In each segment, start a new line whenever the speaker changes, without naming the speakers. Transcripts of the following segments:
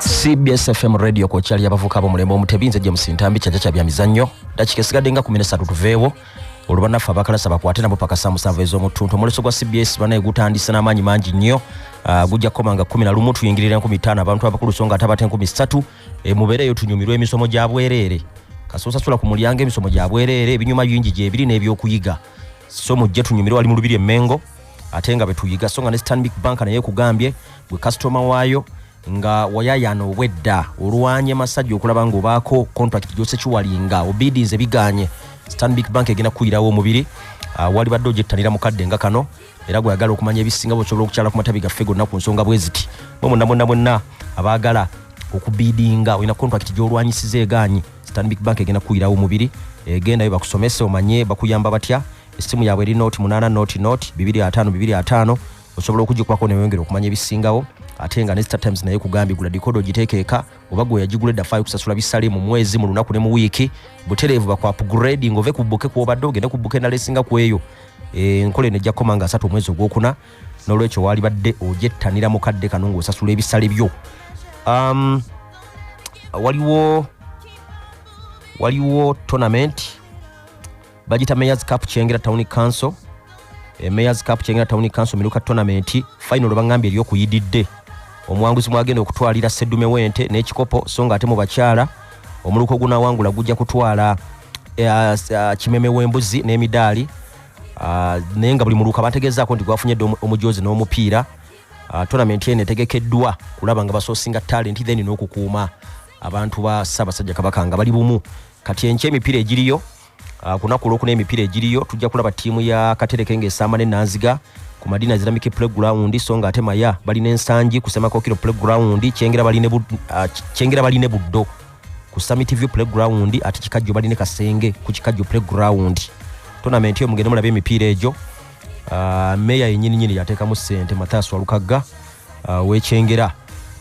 cbs fm radio ku kyali abavuka abomulembe omutebi nze james ntambi kyaja kya byamizannyo dakika esigadde nga kumi nesatu tuveewo olubanaffe abakalasa bakwate nabo paka saa musanvu ez'omuttuntu omuleso gwa cbs banaye gutandise n'amaanyi mangi nnyo ah, gujja kukoma nga kumi na lumu tuyingirira enkumi ttaano abantu abakulu so nga ate abata enkumi ssatu eh, mubeereeyo tunyumirwa emisomo gya bwereere kasosasula ku mulyango emisomo gya bwereere ebinyuma bingi gyebiri n'ebyokuyiga so mujje tunyumirwa wali mu lubiri emmengo ate nga betuyiga so nga ne stanbic bank naye ekugambye gwe kasitoma waayo nga wayayana obwedda olwanye masajja okulaba nga obaako contract gyose kiwalinga obidinze biganye stanbic bank egenda kukuyirawo omubiri ah, wali badde ogyettanira mukadde nga kano era gweyagala okumanya ebisinga bwesobola okukyala ku matabi gaffe gonna ku nsonga bweziti mwe mwenna mwenna mwenna abaagala okubidinga olina contract gyolwanyisiza eganyi stanbic bank egenda kukuyirawo omubiri egendayo bakusomese omanye bakuyamba batya essimu yaabwe eri noti 8 noti noti 25 25 osobola okugikubako neweyongera okumanya ebisingawo ate nga ne star times naye kugambye gula dikodo ogiteekeeka oba gwe yagigula edda faayo kusasula bisale mu mwezi mu lunaku ne mu wiiki butereevu bakwa upgrade ng'ove ku bbuke kwobadde ogende ku bbuke endala esinga ku eyo eh, enkola eno ejja kukoma nga asatu omwezi ogwokuna n'olwekyo waalibadde ogyettanira mu kadde kano ng'osasula ebisale byo um, waliwo waliwo tournament bagita mayors cup kyengera town council e mayors cup kyengera town council miruka tournament final bangambye eri okuyididde omuwanguzi mwagenda okutwalira sedume wente n'ekikopo so nga ate mu bakyala omuluka ogunawangula gujja kutwala e, kimeme w'embuzi n'emidaali naye nga buli muluka bategeezaako nti gwafunye dde omujoozi n'omupiira tournament eno etegekeddwa kulaba nga basoosinga talenti then n'okukuuma abantu ba ssaabasajja kabaka nga bali bumu kati enkya emipiira egiriyo Ah, ku lunaku olwokuna emipiira egiriyo tujja kulaba ttiimu ya katereke ng'esaama ne nanziga ku madina zirambike playground so nga ate maya balina ensangi ku semakokiro playground kyengera baline ah, buddo ku summit view playground ate kikajjo baline kasenge ku kikajjo playground tonamenti eyo mugende mulaba emipiira egyo ah, meeya yenyininyini yateekamu ssente mathaas walukagga wekyengera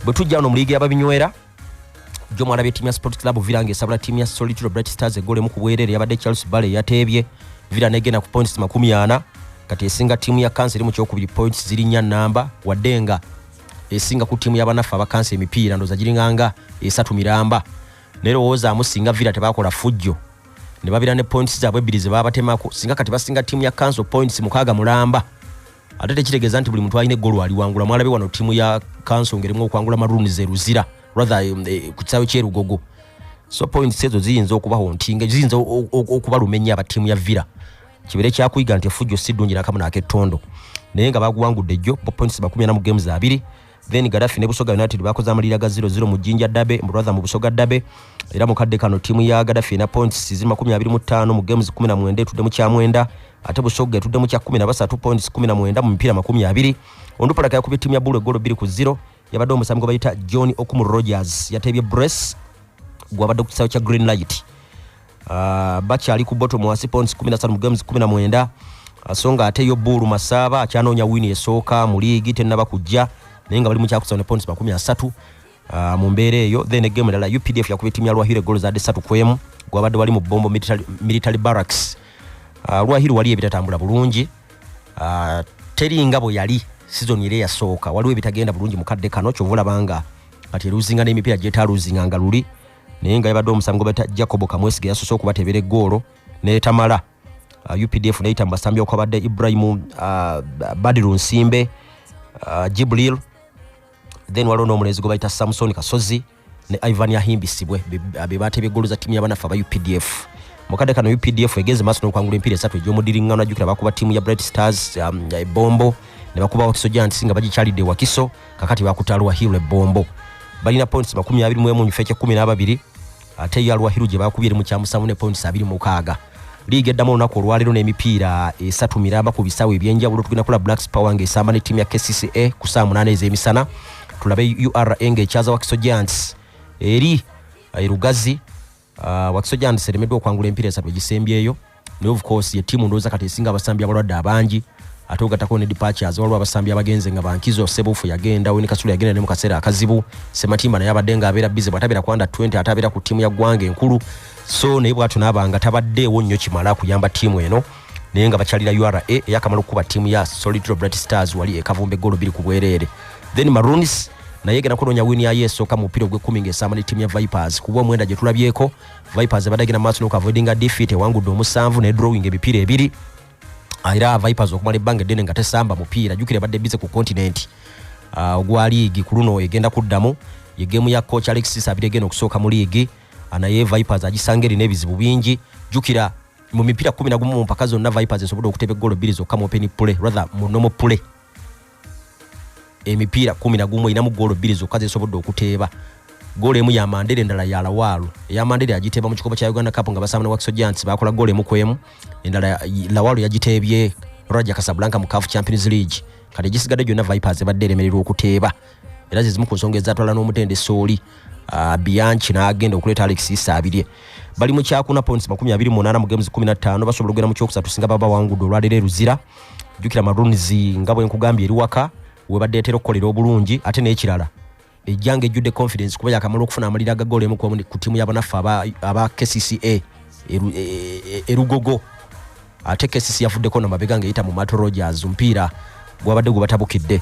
bwe tujja wano mu liigi yababinywera gyomwalabye tiimu ya sport club villa nga esabula tiimu ya solitude bright stars egolemu ku bwerere yabadde charles bale eyateebye villa negenda ku points makumi ana kati esinga tiimu ya kansa eri mu kyokubiri points ziri nnya namba wadde nga esinga ku tiimu yabanaffe abakansa emipiira ndoza giringanga esatu miramba naye lowoozaamu singa villa tebakola fujjo ne babira ne points zaabwe ebbiri ze babatemako singa kati basinga tiimu ya kanso points mukaaga mulamba ate tekitegeeza nti buli muntu alina eggolo aliwangula mwalabe wano ttiimu ya kanso ngerimu okwangula maroon ze luzira rather um, eh, ku kisaawe kyerugogo so points ezo ziyinza okubaho nti nga ziyinza okubaluma ennyo aba ttiimu ya villa kibeere kyakuyiga nti efujjo si ddungi nakamu naakettondo naye nga baguwangudde jjo points bakumi ana mu games abiri then garafi ne busoga united bakoze amalira ga 00 mu jinja dabe mbrother mu busoga dabe era mu kadde kano tiimu ya garafi na points zi 25 mu games 17 etudde mu kyamwenda ate busoga etudde mu kya 13 points 17 mu mipiira 20 ondupalaka yakubye tiimu ya bulu egolo 2 ku 0 yabadde omusambi gwe bayita john okumu rogers yateebye brace gwabadde ku kisaawe kya green light Ah, bakyali ku bottom wansi points 15 mu games 19 ah, so nga ate yo buulu masaaba akyanoonya wini esooka mu liigi tennaba kujja naye nga bali mu kyakusatu ne points makumi asatu ah, mu mbeera eyo then egemu endala updf yakuba ettimu ya lwahiru egolo zadde satu ku emu gwabadde wali mu bombo military- military barracks Ah, lwahiru wali ebitatambula bulungi Ah, teri nga bwe yali sizoni era eyasooka waliwo ebitagenda bulungi mu kadde kano kyova olaba nga kati eruzinga n'emipiira gyetaaluzinga nga luli naye nga yabadde omusambi gwebata jacob kamwesige yasose okubatebera egoolo netamala uh, updf neyita mu basambi okwabadde ibrahim uh, badiru nsimbe uh, jibril then waliwo n'omulenzi gwe bayita samson kasozi ne ivan yahimbisibwe bebateba egoolo za tiimu yabanaffe aba updf mukadde kano updf egenze maaso nokwangula empiira esatu egyomudiriŋŋano ajjukira bakuba tiimu ya bright stars um, ebombo ne bakuba wakiso giants nga bagikyalidde wakiso kakati bakutte aluwahiru ebombo balina points makumi abiri mwemu nyife ekyekumi n'ababiri ate yo aluwahiru gye bakubye eri mu kyamusanvu ne points abiri mukaaga liiga eddamu olunaku olwaleero n'emipiira esatu miramba ku bisaawe ebyenjawulo tugenda kula blacks power ng'esamba ne tiimu ya kcca ku saa munaana ez'emisana tulabe ura ng'ekyaza wakiso giants eri erugazi eh, Uh, wakiso giants eremeddwa okwangula empiira esatu egisembyeyo naye of course ye tiimu ndowooza kati esinga abasambi abalwadde abangi ate ogattako ne departures waliwo abasambi abagenze nga bankizo sebufu yagenda weni kasula yagenda ne mu kaseera akazibu sematimba naye abadde nga abeera bize bwatabeera kwanda 20 ate abeera ku tiimu ya ggwanga enkulu so naye bwatyo naabanga tabaddeewo nnyo kimala kuyamba tiimu eno naye nga bakyalira ura eyakamala okukuba tiimu ya solitro brat stars wali ekavumba eggolo biri ku bwereere then maronis naye egenda kunoonya wini yayo esooka mu mupiira ogw'ekkumi ng'esamba ne tiimu ya vipers kuba omwenda gye tulabyeko vipers ebadde agenda maaso n'okuavoidinga defeat ewangudde omusanvu ne drawing ebipiira ebiri ah, era vipers okumala ebbanga eddene nga tesamba mupiira jukira ebadde bize ku kontinenti ah, ogwa liigi ku luno egenda kuddamu ye geemu ya coach alexis abiri egenda okusooka mu liigi ah, naye vipers agisanga erina ebizibu bingi jukira mu mipiira kkumi na gumu mu mpaka zonna vipers esobodde okuteba eggolo bbiri zokka mu openi pule rather mu nomo pule emipiira kkumi na gumu erinamu ggoolo bbiri zokka zesobodde okuteeba goolo emu ya mandere endala ya lawaalo eya mandere agiteeba mu kikopo kya uganda cup nga basaamana wakiso giants bakola goolo emu ku emu endala lawaalo yagiteebye raja casablanca mu caf champions league kati egisigadde gyonna vipers ebadde eremererwa okuteeba era zezimu ku nsonga ezatwala n'omutendesi oli ah, bianchi n'agenda okuleeta alex isa abirye bali mu kyakuna points makumi abiri munaana mu games kumi na ttaano basobola okugenda mu kyokusatu singa baba bawangudde olwaleero eruzira jjukira maroons nga bwe nkugambye eri waka webadde etera okukolera obulungi ate n'ekirala ejjanga ejjudde confidence kuba yakamala okufuna amalira agagoolo emu ku tiimu yabanaffe aba kcca erugogo e, e, e, ate kcc yavuddeko no mabega ng'eyita mu mato rogers mpiira gwabadde gwe batabukidde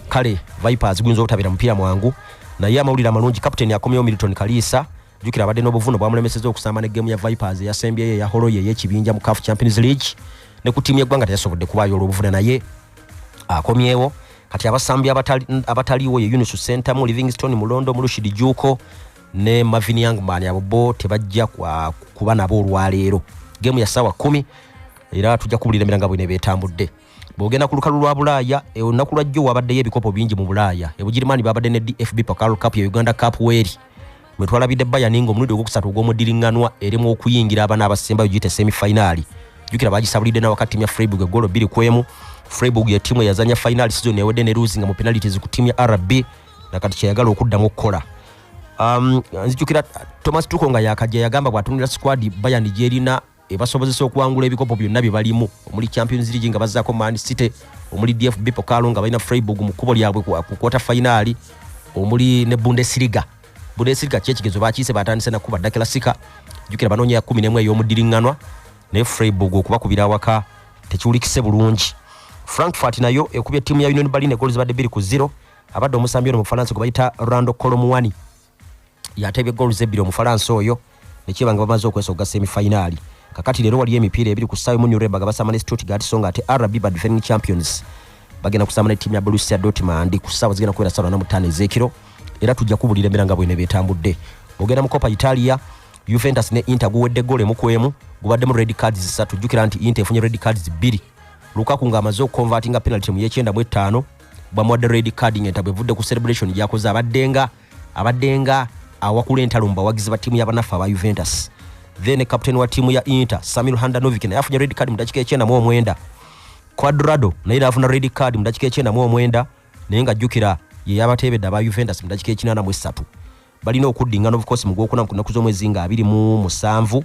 kale vipers guyinza obutabeera mupiira mwangu naye amawulire amalungi kapiteni akomyewo milton kaliisa jukira abadde n'obuvuno bwamulemeseza okusamba ne gemu ya vipers eyasembyeyo eya holoye ey'ekibinja mu caf champions league ne ku tiimu y'eggwanga teyasobodde kubaayo olw'obuvune naye akomyewo kati abasambi abataliwo ye yunus sentamu livingstone mulondo mulushidi juuko ne Marvin Youngman abo bo tebajja kuba nabo olwaleero gemu ya saawa kumi era tujja kubulira emiranga bwine betambudde bwogenda ku lukalu lwa bulaaya e, olunaku lwajjo wabaddeyo ebikopo bingi mu bulaaya ebugirimaani babadde ne dfb pacal cup ya uganda cup weeri wetwalabidde bayani nga omulundi ogwokusatu ogw'omuddiringanwa eremu okuyingira abana abasembayo giyita semifayinaali jukira bagisabulidde nawakati mya freiburg egolo bbiri ku emu freiburg ye tiimu eyazanya fayinaali sizoni ewedde ne luuzi nga mu penalities ku tiimu ya rb nakati kyeyagala okuddamu okukola um, nzijukira thomas tuko nga yakajja yagamba bwatunulira squad bayani gyerina ebasobozesa okuwangula ebikopo byonna byebalimu omuli champions league nga bazaako man city omuli dfb pokalo nga balina freiburg mu kkubo lyabwe ku kwota fainaali omuli ne bundesliga bundesliga kyekigezo bakiise batandise nakuba dakila sika jukira banoonya ya kumi nemu ey'omuddiriŋŋanwa naye freiburg okubakubira awaka tekiwulikise bulungi frankfurt nayo ekubye ttiimu ya union berlin egooli zibadde bbiri ku zero abadde omusambi ono mu bufalansa gwe bayita rando colomuani yateebye goolu zebbiri omufalansa oyo nekyeba nga bamaze okwesa okugasa emifayinaali kakati leero waliyo emipiira ebiri ku ssaayo mu nureba nga basamba ne stuttgart so nga ate rb ba defending champions bagenda kusamba ne ttiimu ya bolusia dortmund ku ssaawa zigenda kubeera ssaawa na mutaano ez'ekiro era tujja kubulira embeera nga bwene betambudde ogenda mu copa italia juventus ne inter guwedde goolo emu ku emu gubaddemu red cards zisatu jjukira nti inter efunye red cards bbiri lukaku ng'amaze okukonvatinga penalty mu yekyenda mu ettaano bamuwadde red card nga entabwe evudde ku celebration gyakoze abaddenga abaddenga awakula entalo mu bawagizi ba ttiimu yabanaffe aba juventus then captain wa ttiimu ya inter samil handanovic naye afunye red card mu dakika ekyenda mu omwenda quadrado naye naafuna red card mu dakika ekyenda mu omwenda naye ng'ajjukira ye yabateebedde aba juventus mu dakika ekinana mu essatu balina okuddingana obukoosi mu gwokuna ku nnaku z'omwezi nga abiri mu musanvu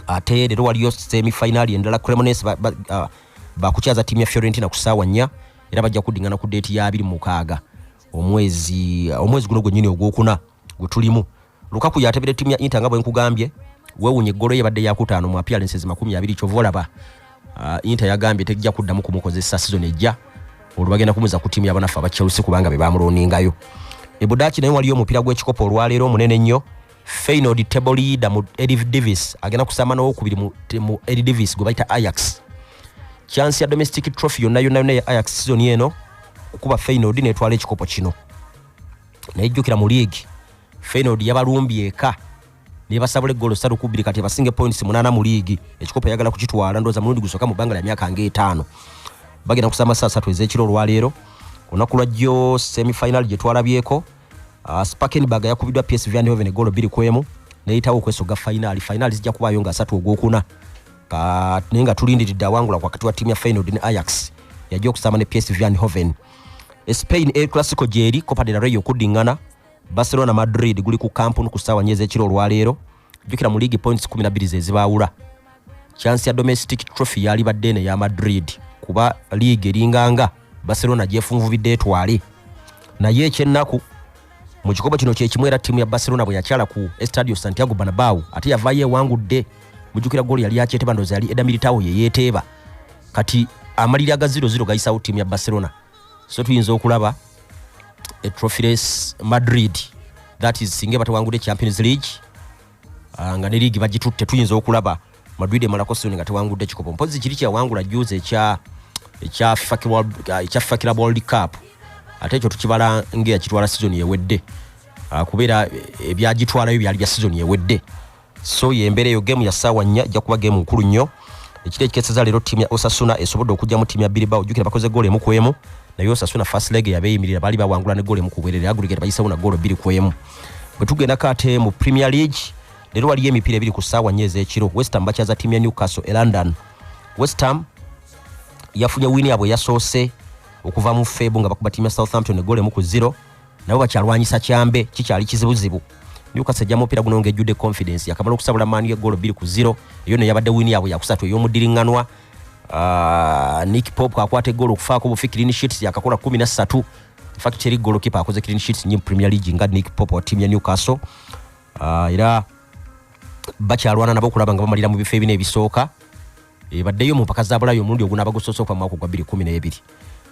ate leero waliyo semifinaali endala cremones bakukyaza ttiimu ya fiorentina ku ssaawa nnya era bajja kuddingana ku deeti ya abiri mukaaga omwezi omwezi guno gwennyini ogwokuna gwe tulimu lukaku yatebera ttiimu ya inta nga bwe nkugambye wewunya eggolo ye badde yakutaano mu appearances makumi abiri kyova olaba Uh, Inter yagambye tejja kuddamu kumukozesa season ejja olwo bagenda kumuza ku tiimu yabanaffe aba Chelsea kubanga be baamuloningayo. Ebudaaki naye waliyo omupiira gw'ekikopo olwaleero omunene ennyo Feyenoord table leader mu Eddie Davis agenda kusamba n'owokubiri mu, mu Eddie Davis gwe bayita Ajax. Chance ya domestic trophy yonna yonna yonna ya Ajax season eno okuba Feyenoord n'etwala ekikopo kino. Naye jjukira mu liigi Feyenoord yabalumbye eka nebasabula eggolo ssatu ku bbiri kati ebasinge points munaana mu liigi ekikopo eyagala kukitwala ndooza mulundi gusooka mu bbanga lya myaka nga etaano bagenda kusaba amasaa asatu ez'ekiro olwaleero olunaku lwa jjo semifinal gye twalabyeko ah, spakenberg yakubiddwa psv andhoven eggolo bbiri ku emu neyitawo okwesoga fayinaali fayinaali zijja kubaayo nga asatu ogwokuna naye nga tulindiridde awangula wakati wa tiimu ya fainod ne ayax yajja okusamba ne psv andhoven spain el classico gyeri copa de la rey okuddingana barcelona madrid guli ku kampuni ku ssaawa nyo ez'ekiro olwaleero jjukira mu league points 12 ze zibaawula chansi ya domestic trophy yalibadde eno eya madrid kuba league eringanga barcelona gyefunvubidde etwale naye ekyennaku mu kikopo kino kyekimu era ttiimu ya barcelona bwe yakyala ku estadio santiago banabau ate yavaayo ewangudde mujjukira goli yali yakyeteeba ndoza yali edamiri tawo yeyeeteeba kati amaliri agaziro ziro gayisawo ttiimu ya barcelona so tuyinza okulaba e trophy race madrid that is singa batawangudde champions league ah, nga ne liigi bagitutte tuyinza okulaba madrid emalako soni nga tewangudde kikopo mpozi kiri kyawangula juzi ekya ekya fakira world cup ate ekyo tukibala ngaeyakitwala sizoni ewedde ah, kubeera eh, ebyagitwalayo byali bya sizoni ewedde so yembeera eyo gemu ya ssaawa nnya ejja kuba gemu nkulu nnyo ekiro ekikeseza leero ttiimu ya osasuna esobodde okujja mu ttiimu ya biribao jjukira bakoze goolo emu ku emu naye osasuna fast leg yabeeyimirira baali bawangula ne goolo emu ku bwerere agurigate bayisewo na goolo bbiri ku emu bwe tugenda kate mu premier league leero waliyo emipiira ebiri ku ssaawa nnya ez'ekiro westham bakyaza ttiimu ya newcastle e london westham yafunye wini yabwe yasoose okuva mu febu nga bakuba ttiimu ya southampton egoolo emu ku zero nabo bakyalwanyisa kyambe kikyali kizibuzibu newcastle ejja mupiira guno ngaejjudde confidence yakamala okusabula maanu yegoolo bbiri ku ziro eyo no yabadde wiini yaabwe yakusatu ey'omuddiriŋŋanwa ah, nick pop akwata egoolo okufaako bufi clean sheets yakakola kumi na ssatu infact teri goolokipa akoze clean sheets nyi premier league nga nick pop wa tiimu ya newcastle ah, era bakyalwana nabo okulaba nga bamalira mu bifo ebina ebisooka ebaddeyo mu mpaka za bulaaya omulundi ogunaaba gusoosoka mu mwaka ogwa 2012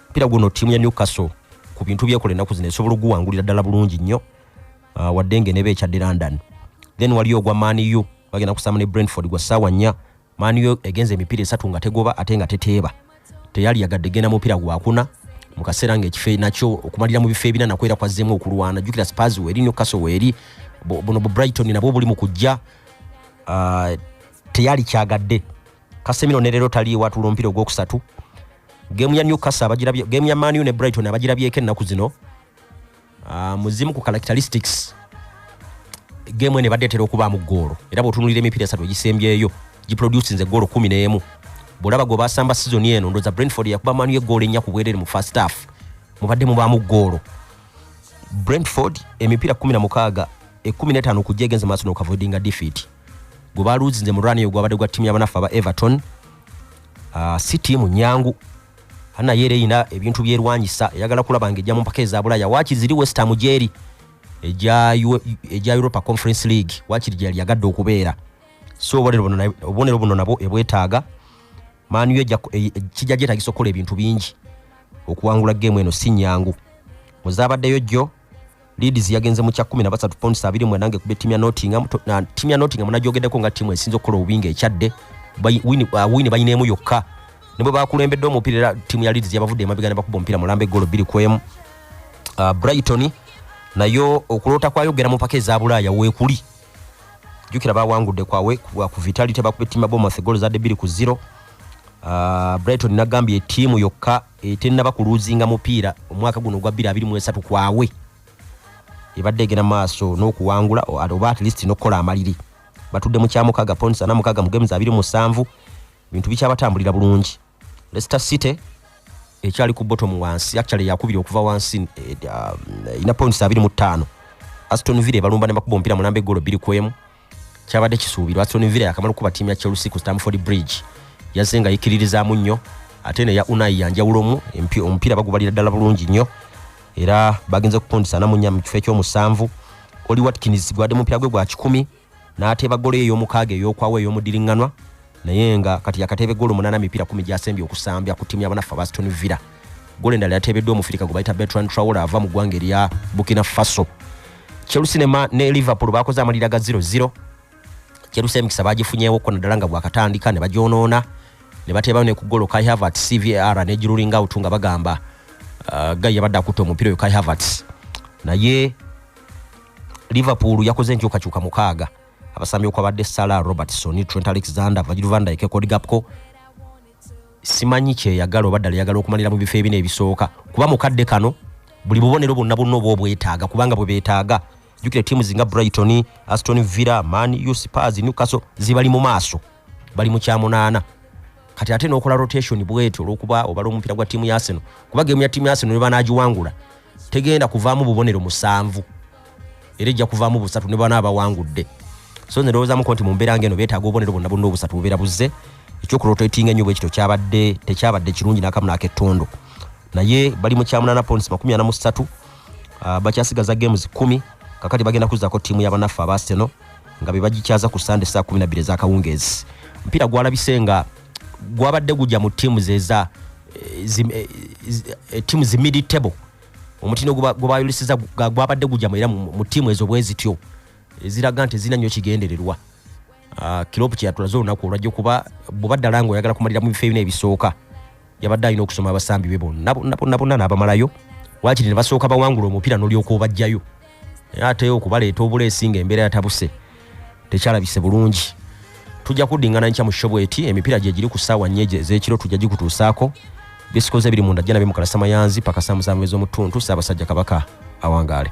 mpira guno ttiimu ya newcastle ku bintu byekola ennaku zino esobola okuguwangulira ddala bulungi nnyo ah, wadde nga eneba ekyadde london then waliyo ogwa maniu bagenda kusaamu ne brentford gwa ssaawa nnya maniu egenza emipiira esatu nga tegoba ate nga teteeba teyali yagadde genda mupiira gwakuna mu kaseera ngaekifo e-, nakyo okumalira mu bifo ebina nakwera kwazzeemu okulwana jukira spars weeri newcastle weeri buno bu brighton nabwo buli mu kujja ah, teyali kyagadde kasemiro ne leero taliiwo atuula omupiira ogwokusatu gemu ya newcastle abagirabye gemu ya manu ne brighton abagirabyeko ennaku zino ah, muzimu ku characteristics gemu eno ebadde etera okubaamu ggoolo era bw'otunulira emipiira esatu egisembyeyo giproducinze ggoolo kumi n'emu bw'olaba gwe basamba sizoni eno ndoza brentford yakuba manu y'eggoolo ennya ku bwereere mu first half mubadde mubaamu ggoolo brentford emipiira kumi na mukaaga ekumi n'etaano okujja egenze maaso n'okavoidinga defeat gwe baluuzinze mu rani eyo gwabadde gwa ttiimu yabanaffe aba everton ah, si tiimu nyangu naye era erina ebintu byerwanyisa eyagala kulaba nga ejja mu mpaka eza bulaya waakiri ziri westham gyeri egya europa conference league waakiri gyeyali yagadde okubeera so obubonero buno nabwo ebwetaaga maaniyo e, kijja gyetagisa okukola ebintu bingi okuwangula geemu eno si nyangu muzabaddeyo jjo Leeds yagenze mu kya 13 points abiri mu nange kubye timu ya Nottingham na timu ya Nottingham najogedeko nga timu esinzo kola obinga ekyadde wini uh, wini bayinemu yokka nibwe bakulembedde omupiira era timu ya Leeds yabavudde emabega ne bakuba omupiira mulambe golo biri kwemu uh, Brighton nayo okulota kwa yogera mu pake za bulaya wekuli jukira bawangudde kwawe kwa ku Vitality bakubye timu ya Bournemouth golo za debiri ku 0 uh, Brighton nagambye timu yokka eh, tennaba kuluuzinga mupiira omwaka guno ogwa 2023 kwawe ebadde egenda maaso n'okuwangula oba at least n'okukola amaliri batudde mu kyamukaga points ana mukaga mu games abiri musanvu ebintu bikyabatambulira bulungi leicester city ekyali ku bottom wansi actually yakubiri okuva wansi eh, um, ina points abiri mu ttaano aston villa ebalumba ne bakuba omupiira mulamba eggolo bbiri ku emu kyabadde kisuubirwa Aston Villa yakamala okukuba ttiimu ya Chelsea ku Stamford Bridge yazze nga yikiririzaamu nnyo ate neya Unai yanjawulomu omupiira bagubalira ddala bulungi nnyo era bagenze kukundisa namunya mu kifo ekyomusanvu Oli Watkins gwadde mupiira gwe gwa kikumi n'ateeba golo ey'omukaaga ey'okwawo ey'omudiriŋŋanwa naye nga kati yakateebe goolo munana mipiira kumi gyasembye okusambya ku tiimu yabanaffe aba aston villa goolo endala yateebeddwa omufirika gwe bayita betran trawl ava mu ggwanga erya bukina faso chelsea ne liverpool bakoze amalira ga 00 chelsea emikisa bagifunyewo ko naddala nga bwakatandika ne bagyonoona ne bateebayo ne ku goolo kai havert cvar ne girulinga utu nga bagamba uh, gai yabadde akutte omupiira oyo kai havert naye liverpool yakoze enkyukakyuka mukaaga abasambi okwabadde sala robertson trent alexander vagil van dyke cody gapco simanyi kyeyagala oba ddala yagala okumalira mu bifo ebina ebisooka kuba mukadde kano buli bubonero bwonna bwonna oba obwetaaga kubanga bwe beetaaga jukira tiimu zinga brighton aston villa man uspars newcastle zibali mu maaso bali mu kyamunaana kati ate nokola rotation bwetyo olwokuba obala omupiira gwa tiimu yaseno kuba gemu ya tiimu yaseno nebanagiwangula tegenda kuvaamu bubonero musanvu era ejja kuvaamu busatu ne bana abawangudde so nze ndowoozamuko nti mu mbeera ngeno beetaaga obubonero bonna bonna obusatu bubeera buzze ekyokurotatinga ennyo bwekityo kyabadde tekyabadde kirungi nakamu nakettondo naye bali mu kyamunaana points makumi ana mu ssatu ah, bakyasigaza games kumi kakati bagenda kuzzako ttiimu yabanaffe abaaseno nga bebagikyaza ku sande saa kumi nabiri ezakawungeezi omupiira gwalabise nga gwabadde gujja mu tiimu zeza tiimu zimidi table omutindo gwebayoleseza gwabadde gujamu era mu tiimu ezo bwezityo ziraga nti zirina nyo kigendererwa ah, kilopu kyeyatulaze olunaku olwajja okuba bweba ddala nga oyagala kumalira mu bifo ebina ebisooka yabadde alina okusoma abasambi be bonna bonna bonna bonna n'abamalayo wakiri ne basooka bawangula omupiira n'olyoka obajjayo naye ate okubaleeta obuleesi nga embeera yatabuse tekyalabise bulungi tujja kuddingana nkya mu shobu eti emipiira gye giri ku ssaawa nnyo ez'ekiro tujja gikutuusaako bisikoze biri munda jjana bimukalasa mayanzi paka saamuzaamubezi omuttuntu ssaabasajja kabaka awangaale